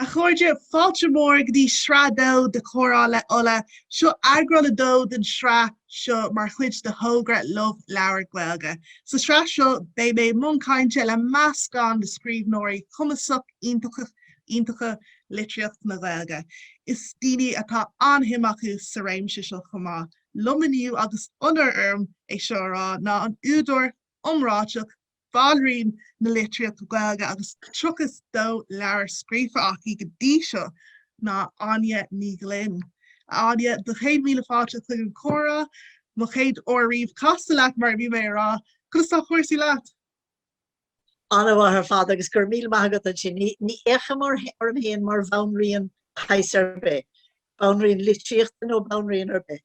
A chairde, fáilte mhór go dtí Sraith 2 de Comhrá le Ola. Seo eagrán 2 den tsraith seo mar chuid de thogra Love Leabhar Gaeilge. Sa tsraith seo, beidh mé i mbun cainte le meascán de scríbhneoirí cumasacha iontacha litríocht na Gaeilge is daoine atá an-suim acu sa réimse seo chomh maith. Liom inniu agus onóir orm é seo a rá, ná an údar iomráiteach, banríon na litríochta Gaeilge agus 32 leabhar scríofa aici go dtí seo, ná Áine Ní Ghlinn. A Áine, do chéad míle fáilte chuig an Comhrá. Mo chéad uair riamh casadh leat mar a bhí mé ag rá. Conas tá cúrsaí leat? Ana-mhaith ar fad agus go raibh míle maith agat as sin. Ní fhéachaim orm féin mar bhanríon de shaghas ar bith, banríon litríochta nó banríon ar bith.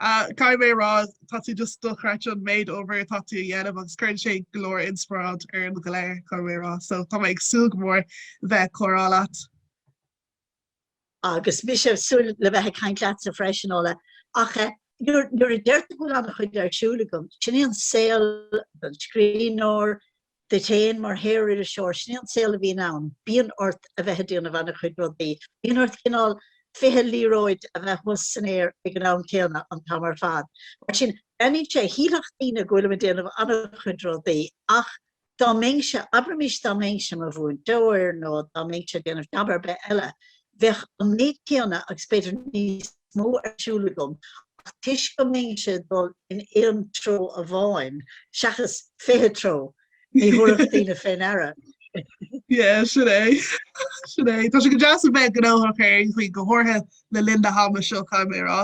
Caithfidh mé a rá, tá tú just dochreidte an méid oibre atá tú a dhéanamh agus cuireann sé go leor inspioráid orainn go léir, caithfidh mé a rá. So tá mé ag súil go mór bheith ag comhrá leat. Agus mise ag súil le bheith ag caint leatsa freisin, Ola, ach eh, nuair, nuair a deirtear go bhfuil an-chuid ar siúl agam, sin é an saol an scríbhneora, duit féin mar shaoririseoir, sin é an saol a bhíonn ann, bíonn ort a bheith ag déanamh ana-chuid rudaí, bíonn ort cineál fiche liathróid a bheith thuas san aer ag an am céanna an t-am ar fad. Mar sin, breathnaíonn sé, shílfeadh daoine go bhfuilim ag déanamh ana-chuid rudaí, ach Dá mbeinnse, abraimis dá mbeinnse i mo mhúinteoir nó dá mbeinnse ag déanamh jab ar bith eile, bheadh an méid céanna agus b'fhéidir níos mó ar siúl agam ach toisc go mbeinnse ag dul in aon treo amháin seachas fiche treo, ní thabharfadh daoine fé ndeara é. Yeah, sin é. Sin é. Tá sé go deas a bheith gnóthach ar aon chaoi, go háirithe le linn na hama seo, caithfidh mé a rá.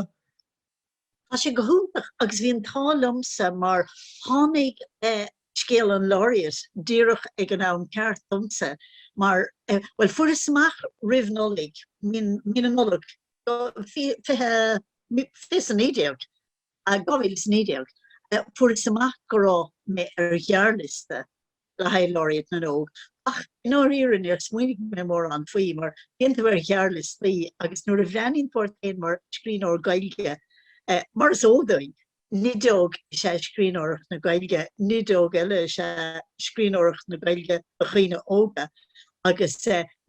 Tá sé go hiontach agus bhí an t-ádh liomsa mar tháinig scéal an Laureate díreach ag an am ceart domsa mar, bhuel, fuaireas amach roimh Nollaig, mí na Nollag, 2019, fuaireas amach go raibh mé ar ghearrliosta le haghaidh Laureate na nÓg. Ach, i ndáiríre, níor smaoinigh mé mórán faoi, mar bíonn tú ar ghearrliostaí agus nuair a bhreathnaíonn tú ort féin mar scríbhneoir Gaeilge, mar is eol dúinn, nideog is ea scríbhneoireacht na Gaeilge, nideog eile is ea scríbhneoireacht na Gaeilge do dhaoine óga, agus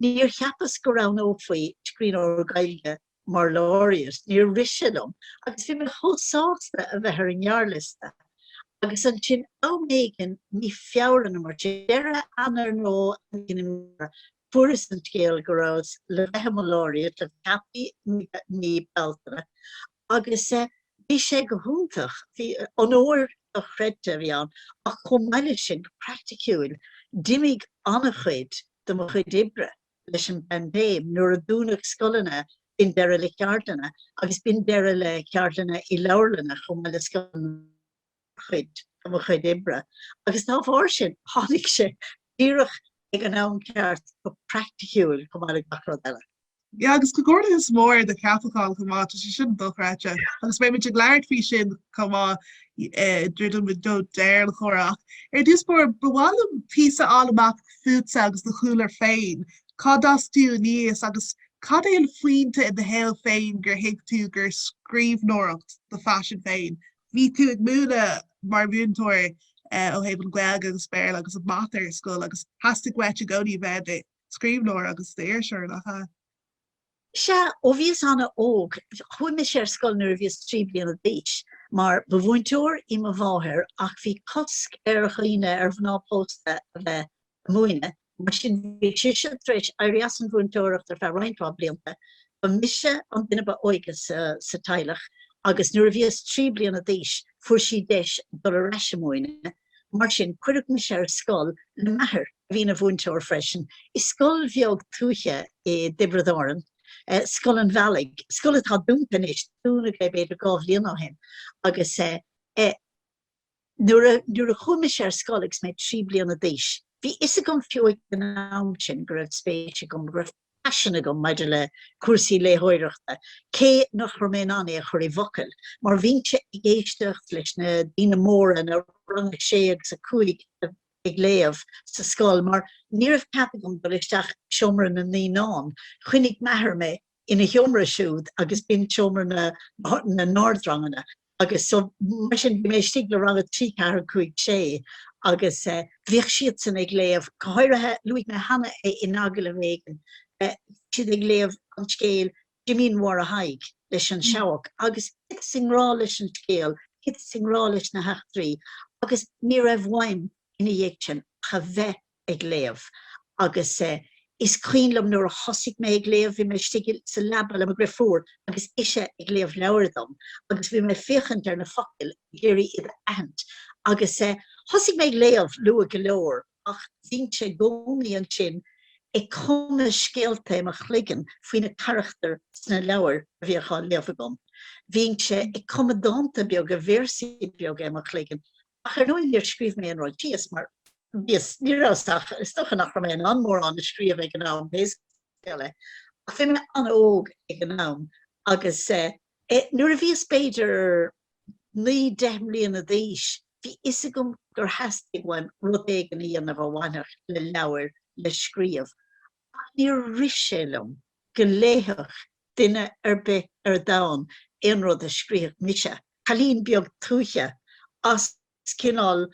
níor cheapas go roghnófaí scríbhneoir Gaeilge mar Laureate, níor rith sé liom agus bhí mé chomh sásta a bheith ar an ngearrliosta. Agus ansin am éigin mí Feabhra nó mar sin, deireadh Eanáir nó am éigin i mí Feabhra, fuaireas an scéal go rabhas le bheith i mo Laureate le ceapadh i mí Bealtaine agus bhí sé go hiontach, bhí, onóir dochreidte a bhí ann ach chomh maith leis sin, go praiticiúil, d'imigh ana-chuid de mo chuid oibre. leis an bpaindéim nuair a dúnadh scoileanna, b'in deireadh le ceardlanna agus b'in deireadh le ceardlanna i leabharlanna chomh maith le scoileanna mar chuid de mo chuid oibre agus dá bharr sin, tháinig sé díreach ag an am ceart go praiticiúil chomh maith le gach rud eile. Yeah, agus comhghairdeachas mór ar do cheapachán chomh maith, tá sé sin dochreidte agus beidh muid ag labhairt faoi sin chomh maith druidim do dheireadh an chomhrá. Ach ar dtús báire ba mhaith liom píosa a fháil amach fútsa agus do chúlra féin, cá d'fhás tú aníos agus cad é an phointe i do shaol féin gur thuig tú gur scríbhneoireacht do phaisean féin? Bhí tú ag múineadh mar mhúinteoir ó thaobh an Gaeilge agus Béarla agus an Mata ar scoil agus theastaigh uait i gcónaí a bheith i do scríbhneoir agus d'iriseoir, nach ea? Sea, ó bhíos ana-óg, chuaigh mise ar scoil nuair a bhíos trí bliana d'aois, mar ba mhúinteoir í mo mháthair ach bhí cosc ar dhaoine, ar mhná pósta, a bheith ag múineadh, mar sin bhí sise tar éis éirí as an mhúinteoireacht ar feadh roinnt mhaith blianta. Ba mise an duine ba óige sa teaghlach agus nuair a bhíos trí bliana d'aois fuair sí deis dul ar ais ag múineadh, mar sin cuireadh mise ar scoil le m'athair. Bhí ina mhúinteoir freisin i scoil bheag tuaithe i dTiobraid Árann, Scoil an Bhealaigh, scoil atá dúnta anois, dúnadh é b'fhéidir dhá bhliain ó shin, agus nuair a chuaigh mise ar scoil agus mé trí bliana d'aois, bhí 'fhios agam fiú ag an am sin go raibh spéis agam, go raibh paisean agam maidir le cúrsaí léitheoireachta, cé nach raibh mé in ann é a chur i bhfocail, mar bhínnse ag éisteacht leis na daoine móra, na Rang 6 agus 5, ag léamh sa scoil mar ní raibh cead agam dul isteach i seomra na naíonán. Choinnigh m'athair mé ina sheomra siúd agus b'in seomra na n-ardranganna agus so, mar sin, bhí mé istigh le rang a trí, ceathair, cúig, sé agus eh bhíodh siadsan ag léamh, go háirithe, luaigh mé cheana é in agallamh éigin, bhí siad ag léamh an scéal Jimín Mháire Thaidhg leis An Seabhac agus thiteas i ngrá leis an scéal, thiteas i ngrá leis na heachtraí agus ní raibh uaim ina dhiaidh sin ach a bheith ag léamh agus is cuimhin liom nuair a thosaigh mé ag léamh, bhí mé istigh sa leaba le mo dhriofúr agus ise ag léamh leabhair dom agus bhí mé ag féachaint ar na focail ag iarraidh iad a aithint agus thosaigh mé ag léamh luath go leor. ach bhínnse i gcónaí ansin ag cumadh scéalta i mo chloigeann faoi na carachtair sna leabhair a bhíodh á léamh agam. Bhínnse ag cumadh dánta beaga, véarsaí beaga i mo chloigeann, ach ar ndóigh níor scríobh mé aon rud síos mar bhíos, ní rabhas ach, is dócha nach raibh mé in ann mórán a scríobh ag an am, pé scéal é. Ach bhí mé an-óg ag an am agus eh. Nuair a bhíos b'fhéidir naoi, deich mbliana d'aois, bhí fhios agam gur theastaigh uaim rud éigin a dhéanamh a bhainfeadh le leabhair le scríobh, ach níor rith sé liom go léifeadh duine ar bith ar domhan aon rud a scríobhadh mise, cailín beag tuaithe as. Is cineál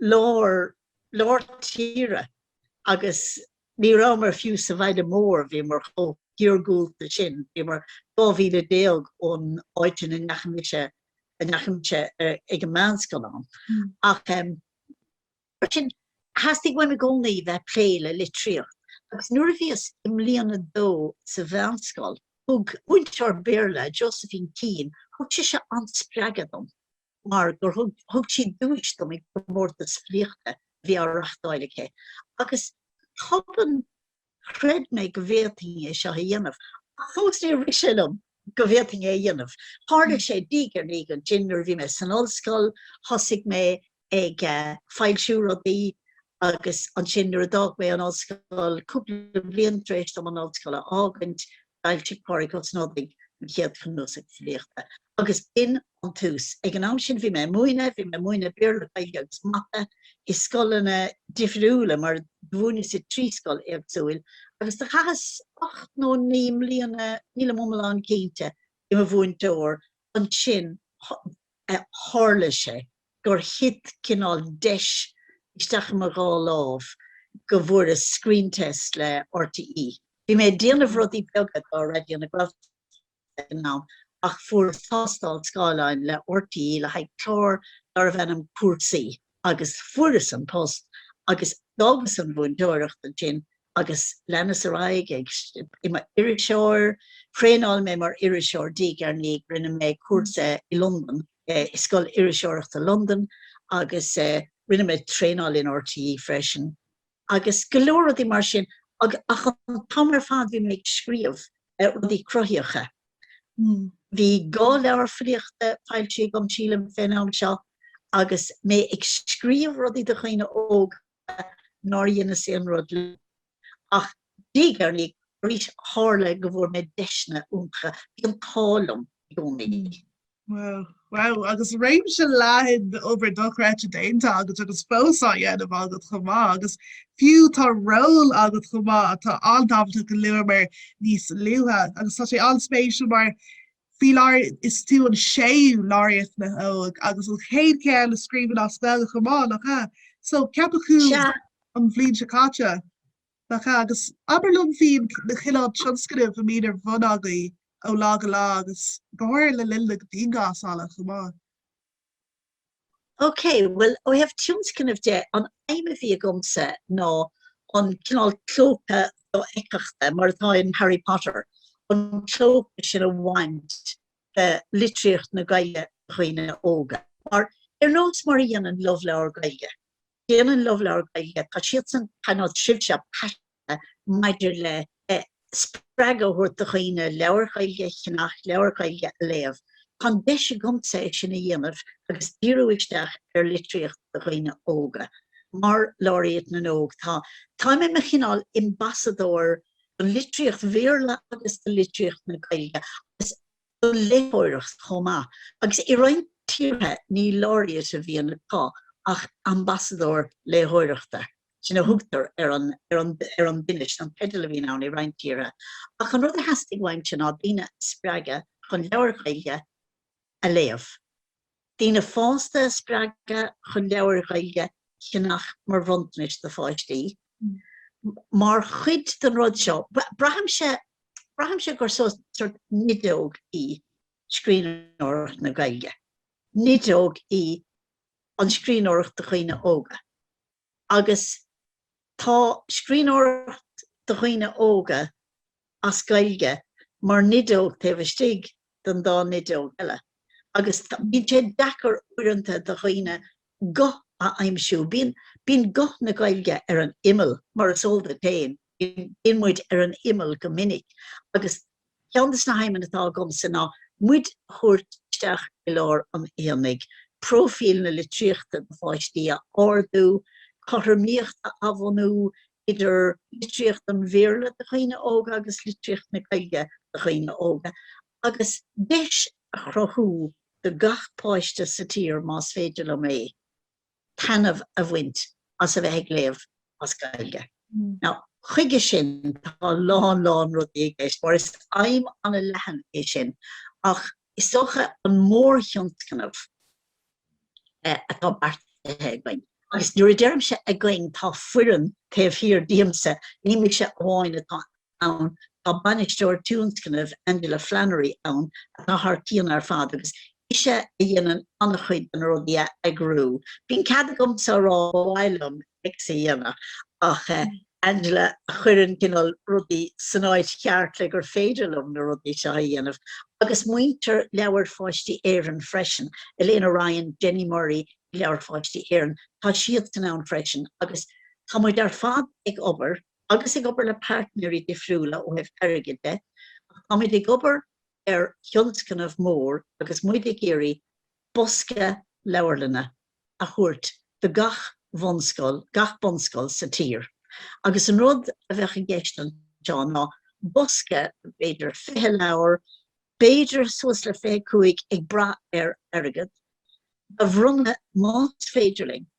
lár, lár tíre agus ní rabhamar fiú sa bhaile mór, bhíomar chomh hiargúlta sin, bhíomar dhá mhíle déag ón áit ina ndeachaigh mise, a ndeachaigh mise ar an meánscoil ann. Ach eh, mar sin, theastaigh uaim i gcónaí bheith plé le litríocht agus nuair a bhíos i mbliain a dó sa mheánscoil, thug múinteoir Béarla, Josephine Keane, thug sise an-spreagadh dom. mar gur thug sí duais dom ag comórtas filíochta a bhí á reachtáil aici, agus go tobann chreid mé go bhféadfainn é seo a dhéanamh, ach fós níor rith sé liom go bhféadfainn é a dhéanamh. Tharla sé diaidh ar ndiaidh ansin, nuair a bhí mé san ollscoil thosaigh mé ag foilsiú rudaí agus ansin nuair a d'fhág mé an ollscoil, cúpla bliain tar éis dom an ollscoil a fhágaint, d'fhoilsigh Pádraig Ó Snodaigh an chéad chnuasach filíochta, agus b'in an tús. Ag an am sin bhí mé ag múineadh, bhí mé ag múineadh Béarla, Gaeilge agus Mata i scoileanna difriúla mar do mhúineas i dtrí scoil éagsúil, agus do chaitheas ocht nó naoi mbliana, nílim iomlán cinnte, i mo mhúinteoir ansin. a tharla sé gur thit cineál deis isteach i mo dhá lámh go bhfuaireas screen test le RTÉ. Bhí mé ag déanamh rudaí beaga do Raidió na Gaeltachta ag an am ach fuaireas tástáil scáileáin le RTÉ le haghaidh clár darbh ainm Cúrsaí. agus fuaireas an post agus d'fhágas an mhúinteoireacht ansin agus leanas ar aghaidh ag i mo iriseoir, thraenáil mé mar iriseoir diaidh ar ndiaidh, rinne mé cúrsa i Londain, i Scoil Iriseoireachta Londain agus rinne mé traenáil in RTÉ freisin. agus go leor rudaí mar sin ach an t-am ar fad bhí mé ag scríobh rudaí cruthaitheacha. Bhí dhá leabhar filíochta foilsithe agam sílim fén am seo agus mé ag scríobh rudaí do dhaoine óga nár dheineas aon rud leo. Ach diaidh ar ndiaidh arís tharla go bhfuair mé deiseanna iontacha, bhí an t-ádh liom i gcónaí. Wow, wow agus réimse leathan d'obair dochreidte déanta agat agus fós á dhéanamh agat chomh maith agus fiú tá ról agat chomh maith atá an-tábhachtach a luamar níos luaithe agus tá sé an-spéisiúil mar faoi láthair is tú an séú Laureate na nÓg agus an chéad ceann a scríobhann as Gaeilge chomh maith, nach ea? So ceapadh thú an bhliain seo caite. Nach ea? Agus abair liom faoi na cineál tionscnaimh a mbíonn ar bhun agaibh ó lá go lá agus go háirithe le linn na dianghlasála chomh maith. OK, bhuel, ó thaobh tionscnaimh de, an aidhm a bhí agamsa ná an cineál clóca dofheictheachta, mar atá in Harry Potter, an clóca sin a bhaint de litríocht na Gaeilge do dhaoine óga. Mar, ar nós mar a dhéanann Love Leabhar Gaeilge. Déanann Love Leabhar Gaeilge, tá siadsan ar nós sibhse paiseanta maidir le spreagadh a thabhairt do dhaoine leabhair Ghaeilge a cheannach, leabhair Ghaeilge a léamh. Tá an deis agamsa é sin a dhéanamh agus díriú isteach ar litríocht do dhaoine óga. Mar Laureate na nÓg, tá táim i mo chineál Ambasadóir do litríocht Bhéarla agus do litríocht na Gaeilge agus. do léitheoireacht chomh maith, agus i roinnt tíortha ní Laureate a bhíonn acu ach ambasadóir léitheoireachta, sin a thugtar ar an ar an duine, sin an teideal a bhíonn ann i roinnt tíortha. Ach an rud a theastaigh uaimse ná daoine a spreagadh chun leabhair Ghaeilge a léamh. daoine fásta a spreagadh chun leabhair Ghaeilge a cheannach mar bhronntanais do pháistí. Mar chuid den rud seo, braithimse, braithimse gur sórt nideog í scríbhneoireacht na Gaeilge, nideog í an scríbhneoireacht do dhaoine óga. agus tá scríbhneoireacht do dhaoine óga as Gaeilge mar nideog taobh istigh den dá nideog eile agus bíonn sé deacair uaireanta do dhaoine guth a aimsiú, bí bíonn guth na Gaeilge ar an imeall, mar is eol duit féin. bíonn muid ar an imeall go minic agus ceann des na haidhmeanna atá agamsa ná muid a thabhairt isteach i lár an aonaigh, próifíl na litríochta do pháistí a ardú, cothromaíocht a bhunú idir litríocht an Bhéarla do dhaoine óga agus litríocht na Gaeilge do dhaoine óga, agus deis a chruthú do gach páiste sa tír, más féidir liom é. taitneamh a bhaint as a bheith ag léamh as Gaeilge. Now, chuige sin, tá a lán lán rudaí i gceist, mar is aidhm an-leathan é sin, ach is dócha an mórthionscnamh atá beartaithe againn, agus nuair a deirimse againn, tá foireann taobh thiar díomsa, ní mise amháin atá ann. Tá Bainisteoir Tionscnaimh, Angela Flannery, ann atá thar cionn ar fad agus ise a dhéanann an-chuid de na rudaí a eagrú. Bíonn cead agamsa a rá ba mhaith liom X a dhéanamh ach Angela a chuireann cineál rudaí san áit cheart le gur féidir liom na rudaí seo a dhéanamh. Agus muintir Leabhair Pháistí Éireann freisin, Elaina Ryan, Jenny Murray ag Leabhair Pháistí Éireann, tá siadsan ann freisin agus tá muid ar fad ag obair, agus ag obair le pairtnéirí difriúla ó thaobh airgid de, ach táimid ag obair ar thionscnamh mór agus muid ag iarraidh bosca leabharlainne a thabhairt do gach bhunscoil, gach bunscoil sa tír. Agus an rud a bheadh i gceist anseo ná bosca b'fhéidir 20 leabhar, b'fhéidir suas le 25 ag brath ar airgead, a bhronnadh más féidir linn.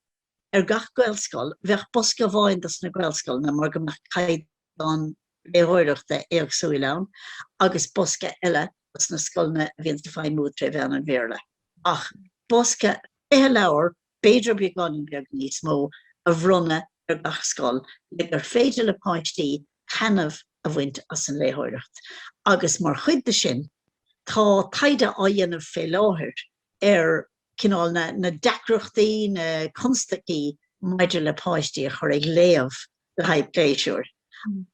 Ar gach Gaelscoil bheadh bosca amháin dos na Gaelscoileanna mar go mbeadh caighdeán léitheoireachta éagsúil ann agus bosca eile dos na scoileanna a bhíonns ag feidhmiú tré mheán an Bhéarla. Ach bosca 20 leabhar, b'fhéidir beagáinín beag níos mó, a bhronnadh ar gach scoil le gur féidir le páistí taitneamh a bhaint as an léitheoireacht. Agus mar chuid de sin tá taighde á dhéanamh fé láthair ar cineál na deacrachtaí, na constaicí maidir le páistí a chur ag léamh le haghaidh pléisiúir.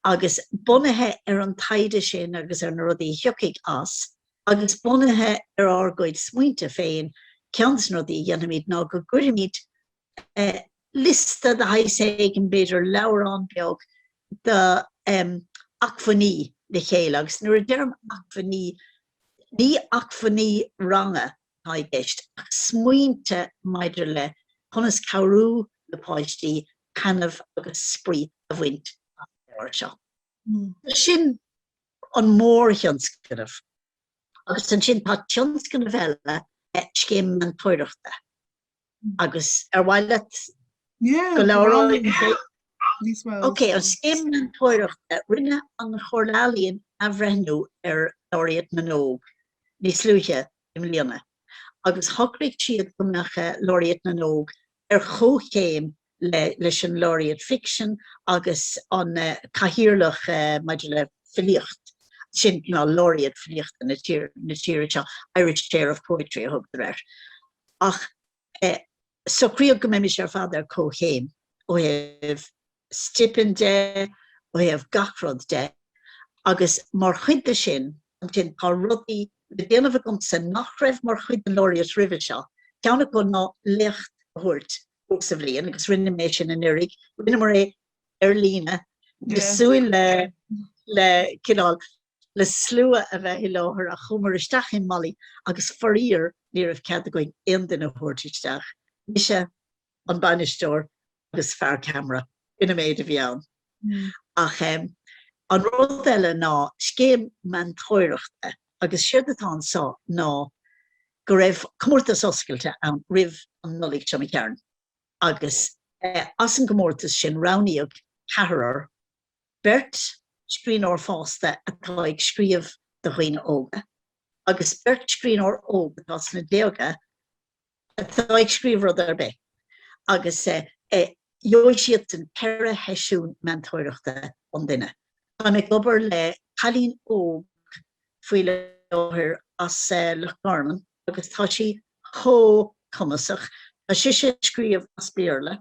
Agus bunaithe ar an taighde sin agus ar na rudaí a thiocfaidh as, agus bunaithe ar ár gcuid smaointe féin, ceann de na rudaí a dhéanfaimid ná go gcuirfimid liosta de shaghas éigin, b'fhéidir leabhrán beag, de acmhainní le chéile. Agus nuair a deirim acmhainní, ní acmhainní ranga atá i gceist ach smaointe maidir le conas cabhrú le páistí taitneamh agus spraoi a bhaint as na leabhair seo. Sin an mórthionscnamh agus ansin tá tionscnamh eile, scéim meantóireachta. agus ar mhaith leat go labhróidh Ok, an Scéim Meantóireachta, rinne an Chomhairle Ealaíon athbhreithniú ar Laureate na nÓg níos luaithe i mbliana agus shocraigh siad go mbeadh Laureate na nÓg ar chomhchéim leis an Laureate Fiction agus an Cathaoirleach maidir le Filíocht, sin ná Laureate Filíochta na tíre seo, Irish Chair of Poetry a thugtar air. Ach socraíodh go mbeimis ar fad ar comhchéim ó thaobh stipinn de, ó thaobh gach rud de agus mar chuid de sin, ansin, tá rudaí le déanamh agamsa nach raibh mar chuid den Laureate roimhe seo, ceann acu ná léacht a thabhairt Thabhairt sa bhliain agus rinne mé sin anuraidh, rinneamar é ar líne, bhíos ag súil le le cineál le slua a bheith i láthair ach chuamar isteach i MoLI agus faraor ní raibh cead againn aon duine a thabhairt isteach, mise, an bainisteoir agus fear ceamara, sin an méid a bhí ann. Ach an rud eile ná scéim meantóireachta agus siad atá anso ná go raibh comórtas oscailte ann roimh an Nollaig, tuairim is a chéad, agus as an gcomórtas sin roghnaíodh ceathrar, beirt scríbhneoir fásta atá ag scríobh do dhaoine óga agus beirt scríbhneoir óg atá sna déaga, atá ag scríobh rud ar bith agus gheobhaidh siadsan ceithre sheisiún meantóireachta an duine. Táim ag obair le cailín óg faoi láthair as Loch Garman agus tá sí chomh cumasach, tá sise ag scríobh as Béarla,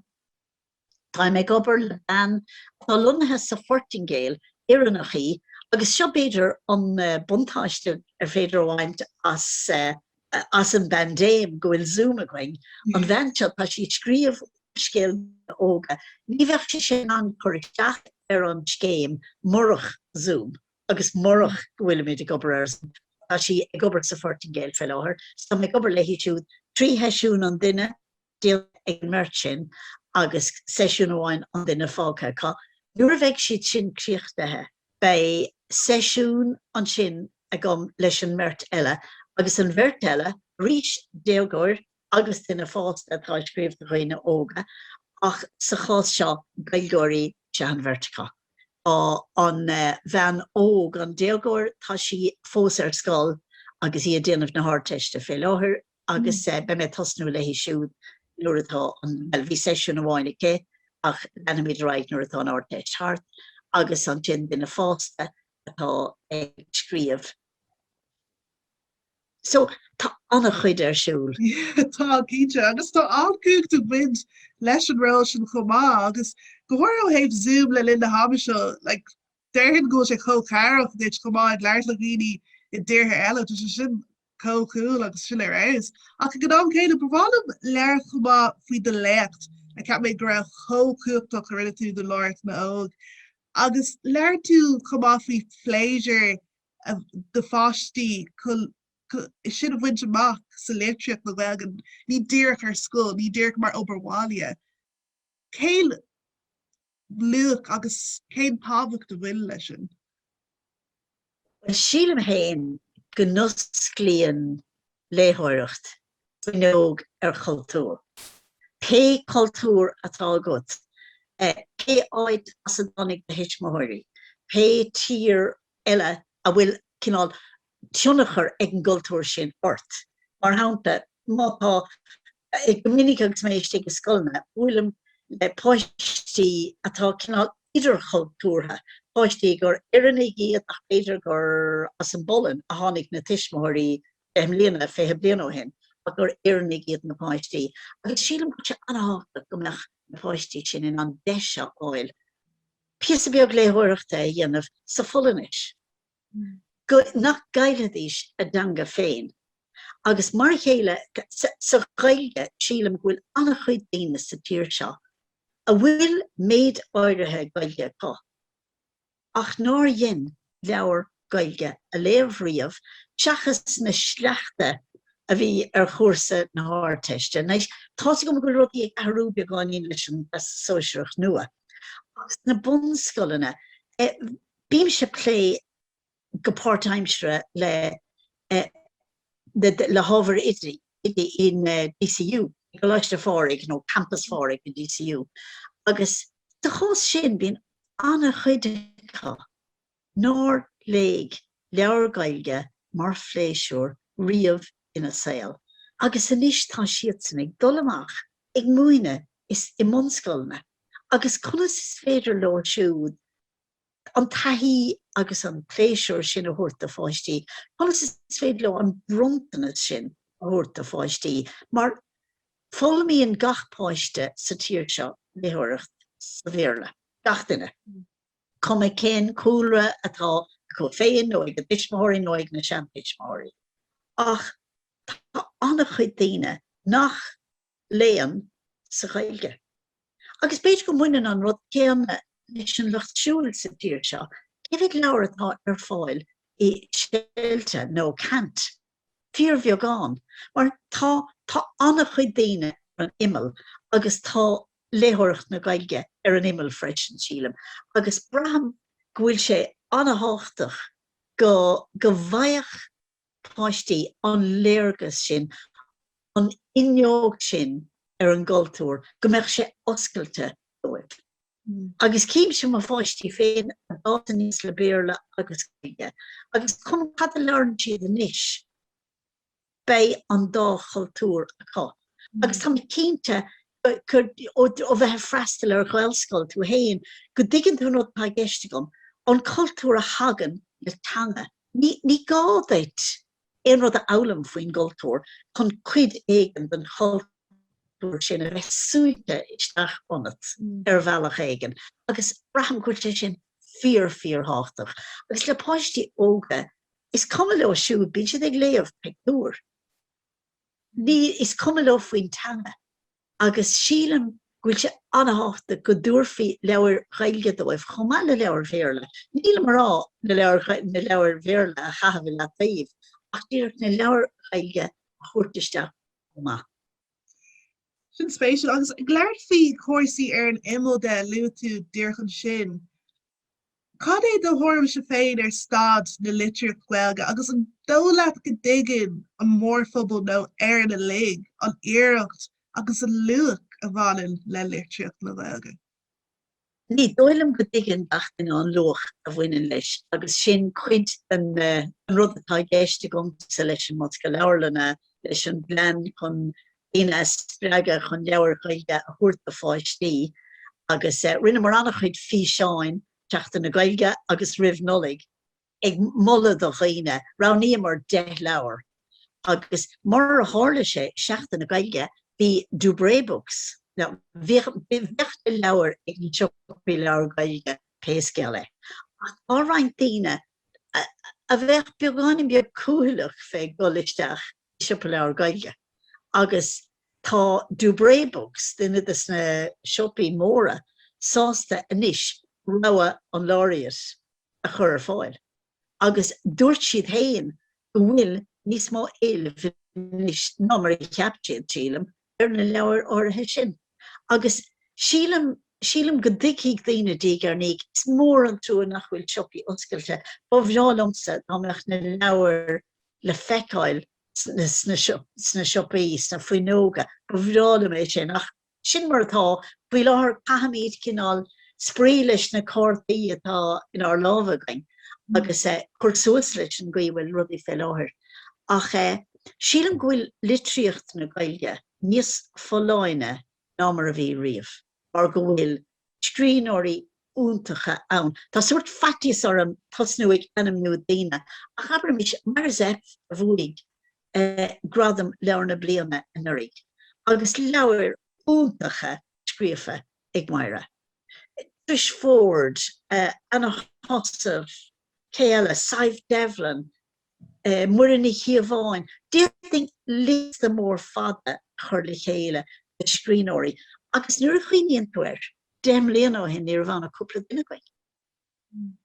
Táim ag obair le bean atá lonnaithe sa Phortaingéil, Éireannach í, agus seo b'fhéidir an buntáiste ar féidir a bhaint as an bpaindéim, go bhfuil Zoom againn. An bhean seo, tá sí ag scríobh úrscéil do dhaoine óga. Ní bheadh sise in ann cur isteach ar an scéim murach Zoom agus murach go bhfuilimid ag obair ar Zoom. Tá sí ag obair sa Phortaingéil faoi láthair, so táim ag obair léi siúd trí sheisiún an duine. déanta ag an mbeirt sin agus seisiún amháin an duine fágtha acu. Nuair a bheidh siad sin críochnaithe beidh seisiún ansin agam leis an mbeirt eile, agus an bheirt eile arís, déagóir agus duine fásta atá ag scríobh do dhaoine óga, ach sa chás seo Gaeilgeoirí is ea an bheirt acu. Tá an bhean óg, an déagóir, tá sí fós ar scoil agus í ag déanamh na hArdteiste fé láthair. agus beidh mé ag tosnú léi siúd nuair atá an, bhuel, bhí seisiún amháin aici ach leanfaimid ar aghaidh nuair atá an Ardteist thart, agus ansin duine fásta atá ag scríobh. So, tá an-chuid ar siúl. Tá, cinnte, agus tá an-chumhacht ag baint leis an ról sin chomh maith, agus go háirithe ó thaobh Zoom le linn na haime seo, like, déarfainn go bhfuil sé chomh tairbheach duit chomh maith ag labhairt le daoine i dtíortha eile, tá sé sin chomh cúl agus sin ar fheabhas. Ach ag an am céanna, ba bhreá liom labhairt chomh maith faoi do léacht, a cheap mé go raibh chomh cumhachtach a rinne tú do Laureate na nÓg. Agus labhair tú chomh maith faoi phléisiúr do pháistí sin a bhaint amach sa litríocht Ghaeilge, ní díreach ar scoil, ní díreach mar obair bhaile. Cén luach agus cén tábhacht a bhfuil leis sin? Sílim féin go n-osclaíonn léitheoireacht fuinneog ar chultúr. Pé cultúr atá agat, pé áit as a dtáinig do thuismitheoirí, pé tír eile a bhfuil cineál tionchar ag an gcultúr sin ort, mar shampla, má tá Go minic agus mé istigh i scoileanna, buailim le páistí atá cineál idirchultúrtha, páistí gur Éireannaigh iad ach b'fhéidir gur as an bPolainn a tháinig na tuismitheoirí deich mbliana, fiche bliain ó shin, ach gur Éireannaigh iad na páistí. Agus sílim go bhfuil sé an-tábhachtach go mbeadh na páistí sin in ann deis a fháil píosa beag léitheoireachta a dhéanamh sa Pholainnis. nach gcaillfidís a dteanga féin. Agus mar a chéile sa Ghaeilge, sílim go bhfuil an-chuid daoine sa tír seo a bhfuil méid áirithe Gaeilge acu, ach nár dhein leabhar Gaeilge a léamh riamh, seachas na sleachta a bhí ar chúrsa na hArdteiste. Tá's agam go bhfuil rudaí ag athrú beagáinín leis an Sóisearach nua, ach sna bunscoileanna, Bímse ag plé go páirtaimseartha le le hábhair oidí in DCU, i gColáiste Phádraig, nó Campas Phádraig in DCU agus sa chás sin bíonn an-chuid acu nár léigh leabhar Gaeilge mar phléisiúr riamh ina saol agus anois tá siadsan ag dul amach ag múineadh i mbunscoileanna agus conas is féidir leo siúd an taithí agus an pléisiúr sin a thabhairt do pháistí, conas is féidir leo an bronntanas sin a thabhairt do pháistí, mar foghlaimíonn gach páiste sa tír seo léitheoireacht sa Bhéarla, gach duine, cuma cén cúlra atá acu féin nó ag a dtuismitheoirí nó ag na seantuismitheoirí, ach tá an-chuid daoine nach. léann sa Ghaeilge. Agus b'fhéidir go mbaineann an rud céanna leis an Lucht Siúil sa tír seo, cé mhéad leabhar atá ar fáil i Seiltis nó Cant? Fíorbheagán, mar tá tá an-chuid daoine ar an imeall agus tá léitheoireacht na Gaeilge ar an imeall freisin, sílim, agus braithim go bhfuil sé an-thábhachtach go go bhfaigheadh. páistí an léargas sin, an fhuinneog sin ar an gcultúr, go mbeadh sé oscailte dóibh. Agus címse mo pháistí féin a d'fhás aníos le Béarla agus Gaeilge, agus cuma cad a labhrann siad anois, beidh an dá chultúr acu. Agus tá mé cinnte ó bheith ag freastal ar Ghaelscoil tú fhéin go dtuigeann tú an rud atá i gceist agam, an cultúr a thagann le teanga. Ní gá duit aon rud a fhoghlaim faoin gcultúr chun cuid éigin den chultúr sin a bheith súite isteach ionat ar bhealach éigin agus braithim go bhfuil sé sin fíor fíor thábhachtach agus le páistí óga, is cuma leo siúd, bíonn siad ag léamh pictiúr. ní, is cuma leo faoin teanga agus sílim go bhfuil sé an-thábhachtach go dtabharfaí leabhair Ghaeilge dóibh chomh maith le leabhair Bhéarla. Nílim a rá na leabhair, na leabhair Bhéarla a chaitheamh i leataobh ach díreach na leabhair Ghaeilge a thabhairt isteach chomh maith. Sin spéisiúil. Agus ag labhairt faoi chúrsaí ar an imeall de, luaigh tú díreach ansin Cad é do thuairimse féin ar staid na litríochta Gaeilge agus an dóigh leat go dtuigeann an mórphobal nó Éire uilig an iarracht agus an luach a bhaineann le litríocht na Gaeilge? Ní dóigh liom go dtuigeann gach duine an luach a bhaineann leis agus sin cuid den rud atá i gceist agamsa leis an mBosca Leabharlainne, leis an bplean chun daoine a spreagadh chun leabhair Ghaeilge a thabhairt do pháistí agus rinneamar an-chuid físeáin, Seachtain na Gaeilge agus roimh Nollaig, ag moladh do dhaoine. Roghnaíomar deich leabhar agus mar a tharla sé, Seachtain na Gaeilge, bhí Dubray Books, now, bhíodh na leabhair ag na siopaí leabhar Gaeilge pé scéal é, ach tá roinnt daoine a bheadh beagáinín beag cúthaileach fé dhul isteach i siopa leabhar Gaeilge agus tá Dubray Books, duine de na siopaí móra, sásta anois rogha an Laureate a chur ar fáil agus dúirt siad féin go bhfuil níos mó éilimh anois ná mar a cheap siad, sílim. ar na leabhair áirithe sin agus sílim, sílim go dtuigfidh daoine diaidh ar ndiaidh, is mór an trua nach bhfuil siopaí oscailte, ba bhreá liomsa dá mbeadh na leabhair le feiceáil sna, sna siopaí, sna fuinneoga, ba bhreá liom é sin ach sin mar atá. Faoi láthair caithimid cineál spraoi leis na cártaí atá inár lámha againn agus cur suas leis an gcaoi a bhfuil rudaí fé láthair ach eh, Sílim go bhfuil litríocht na Gaeilge níos folláine ná mar a bhí riamh mar go bhfuil scríbhneoirí iontacha ann. Tá sórt faitíos orm tosnú ag ainmniú daoine ach abraimis Máire Zepf a bhuaigh gradam Leabhar na Bliana anuraidh agus leabhair iontacha scríofa ag Máire. Trish Forde, Anna Heussaff, cé eile? Sadhbh Devlin, Muireann Ní Chíobháin. D'fhéadfainn liosta mór fada a chur le chéile de scríbhneoirí agus nuair a chuimhníonn tú air, deich mbliana ó shin ní raibh ann ach cúpla duine againn.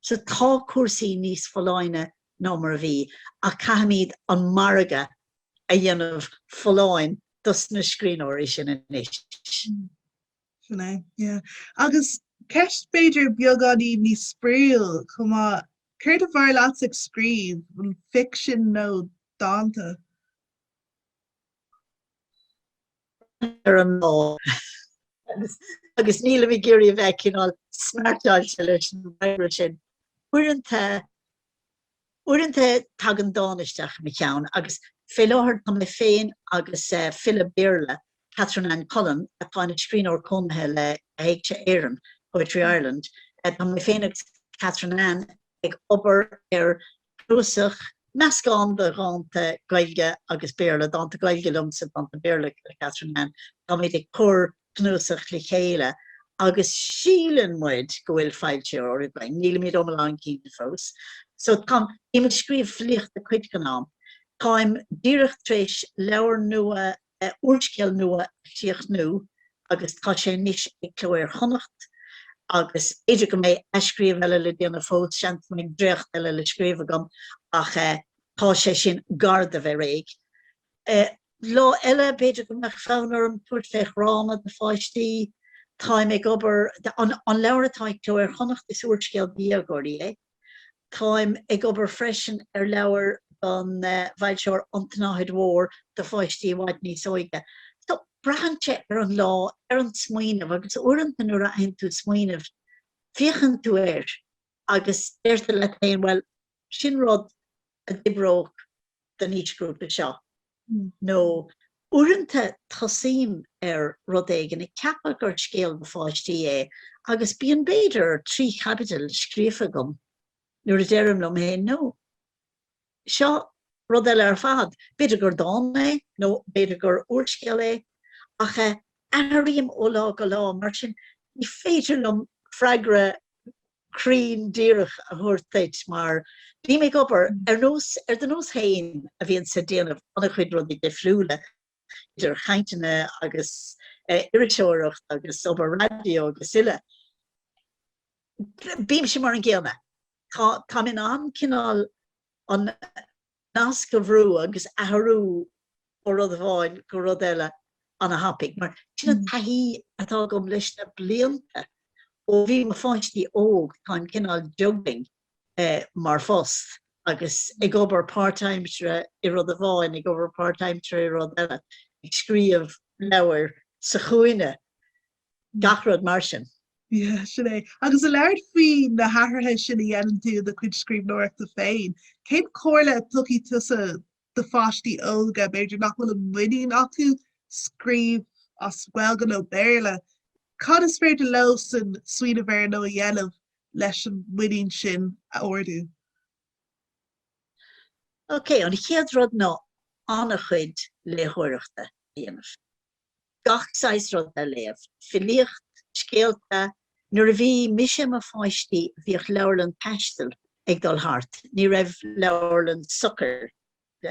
Sea, tá cúrsaí níos folláine ná mar a bhí ach caithfimid an margadh a dhéanamh folláin dos na scríbhneoirí sin anois. Sin é, yeah. Agus ceist b'fhéidir beagáinín níos spraíúil chomh maith, céard ab fhearr leatsa ag scríobh, an ficsean nó dánta? Ar an lá. Agus nílim ag iarraidh a bheith cineál smeartáilte leis an bhfreagra sin. Uaireanta Uaireanta tagann dán isteach i mo cheann agus fé láthair tá mé féin agus file Béarla, Catherine Ann Cullen, atá ina scríbhneoir cónaithe le hÉigse Éireann, Poetry Ireland, tá mé féin agus Catherine Ann ag obair ar chnuasach, meascán de dhánta Gaeilge agus Béarla, dánta Gaeilge liomsa, dánta Béarla le Catherine Ann, táimid ag cur cnuasach le chéile agus síleann muid go bhfuil foilsitheoir againn, nílimid iomlán cinnte fós. So táim, bím ag scríobh filíochta cuid den am, táim díreach tar éis leabhar nua, úrscéal nua a chríochnú agus tá sé anois ag Cló Iar-Chonnacht agus b'fhéidir go mbeidh athscríobh eile le déanamh fós, seans go mbeidh dréacht eile le scríobh agam ach tá sé sin gar do bheith réidh. Lá eile, b'fhéidir go mbeadh fonn orm tabhairt fé dhráma do pháistí. Táim ag obair, an leabhar atá ag Cló Iar-Chonnacht, is úrscéal do dhéagóirí é. Táim ag obair freisin ar leabhar don bhfoilsitheoir An tSnáthaid Mhór do pháistí i bhfad níos óige. So, braitheann sé ar an lá, ar an smaoineamh agus uaireanta nuair a fhaigheann tú smaoineamh, féachann tú air agus deir tú leat féin, bhuel, sin rud a d'oibreodh. don aoisghrúpa seo nó uaireanta tosaím ar rud éigin ag ceapadh gur scéal do pháistí é agus bíonn b'fhéidir trí chaibidil scríofa agam nuair a deirim liom féin no, seo rud eile ar fad, b'fhéidir gur dán é nó b'fhéidir gur úrscéal é ach athraím ó lá go lá mar sin ní féidir liom freagra cruinn díreach a thabhairt duit mar bím ag obair ar nós, ar do nós féin a bhíonn ag déanamh an-chuid rudaí difriúla, idir chainteanna agus iriseoireacht agus obair raidió agus uile. Bímse mar an gcéanna. Tá, táim in ann cineál an, nasc a bhrú agus athrú ó rud amháin go rud eile ana-thapaidh, mar sin an taithí atá agam leis na blianta ó bhí mo pháistí óg, táim cineál ag juggling mar phost agus ag obair páirtaimseartha i rud amháin, ag obair páirtaimseartha i rud eile, ag scríobh leabhair sa chúinne, gach rud mar sin. Yeah, sin é. Agus ag labhairt faoi na hathruithe sin a dhéanann tú i do chuid scríbhneoireachta féin, cén chomhairle a thabharfá tusa do pháistí óga b'fhéidir nach bhfuil an muinín acu scríobh as Gaeilge nó Béarla? Cad is féidir leosan smaoineamh air nó a dhéanamh leis an muinín sin a ardú? Ok, an chéad rud ná an-chuid léitheoireachta a dhéanamh. gach saghas rud a léamh, filíocht, scéalta. Nuair a bhí mise i mo pháiste bhíodh leabharlann taistil ag dul thart, ní raibh leabharlann socair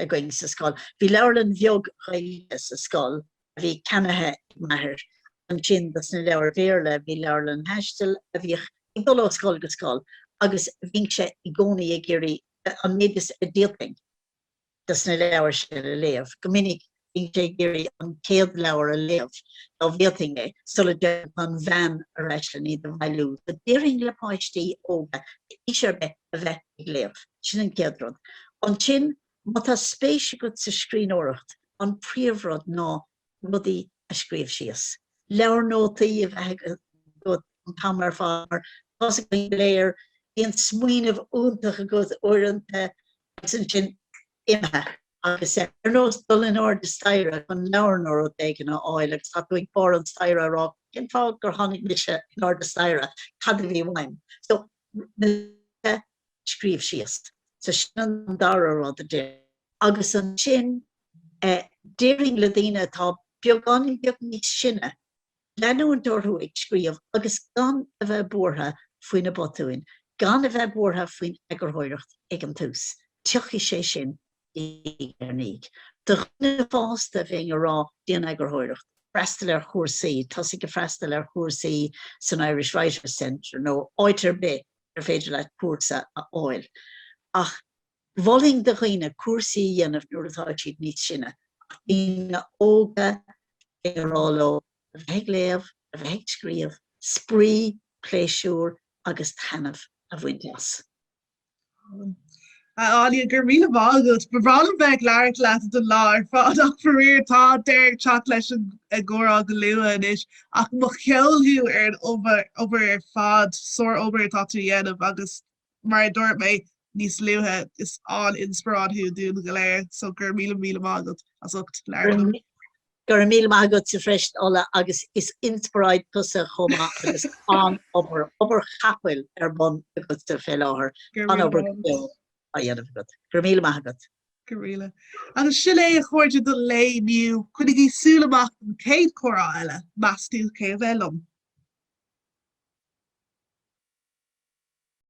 againn sa scoil. Bhí leabharlann bheag Ghaeilge sa scoil a bhí ceannaithe ag m'athair. Ansin dos na leabhair Bhéarla bhí leabharlann taistil a bhíodh ag dul ó scoil go scoil agus bhínnse i gcónaí ag iarraidh an méid is a d'fhéadfainn, dos na leabhair sin a léamh. Go minic bhínnse ag iarraidh an chéad leabhar a léamh dá bhféadfainn é, sula dtéadh an bhean ar ais len iad a bhailiú. So déarfainn le páistí óga d'aois ar bith a bheith ag léamh. Sin an chéad rud. Ansin, má tá spéis agat sa scríbhneoireacht, an príomhrud ná rudaí a scríobh síos, leabhar nótaí a bheith agat an t-am ar fad mar tá a fhios againn go léir, bíonn smaoineamh iontach agat uaireanta agus ansin imithe agus sé ar nós dul in airde staighre chun leabhar nó rud éigin a fháil agus tá tú ag barr an staighre ag rá cén fáth gur tháinig mise in airde staighre, cad a bhí uaim? So scríobh síos. So sin an dara rud a d'. Agus ansin, déarfainn le daoine atá beagán beag níos sine, leanúint orthu ag scríobh agus gan a bheith buartha faoi na botúin, gan a bheith buartha faoin eagarthóireacht ag an tús, tiocfaidh sé sin diaidh ar ndiaidh. Do dhaoine fásta, bheinn ag rá, déan eagarthóireacht, freastal ar chúrsaí, tosaigh ag freastal ar chúrsaí san Irish Writers Centre nó áit ar bith ar féidir leat cúrsa a fháil ach mholfainn do dhaoine cúrsaí a dhéanamh nuair atá siad níos sine ach daoine óga a rá leo a bheith ag léamh, a bheith ag scríobh, spraoi, pléisiúr agus taitneamh a bhaint as. A Áine, go raibh míle maith agat. Ba bhreá liom bheith ag labhairt leat don lá ar fad ach faraor tá deireadh ag teacht leis an gcomhrá go luath anois ach mo cheol thú ar an obair ar fad, sár-obair atá tú a dhéanamh agus mar a dúirt mé níos luaithe, is an-inspioráid thú dúinn go léir so go raibh míle míle maith agat as ucht labhairt liom. Go raibh míle maith agatsa freisin Ola agus is inspioráid tusa chomh maith agus an obair, obair chapaill ar bun agatsa fé láthair. An obair á dhéanamh agat. Go raibh míle maith agat. Go raibh míle. Agus sin é a chairde don lae inniu. Coinnigí súil amach don chéad comhrá eile. Meastú cé a bheidh liom.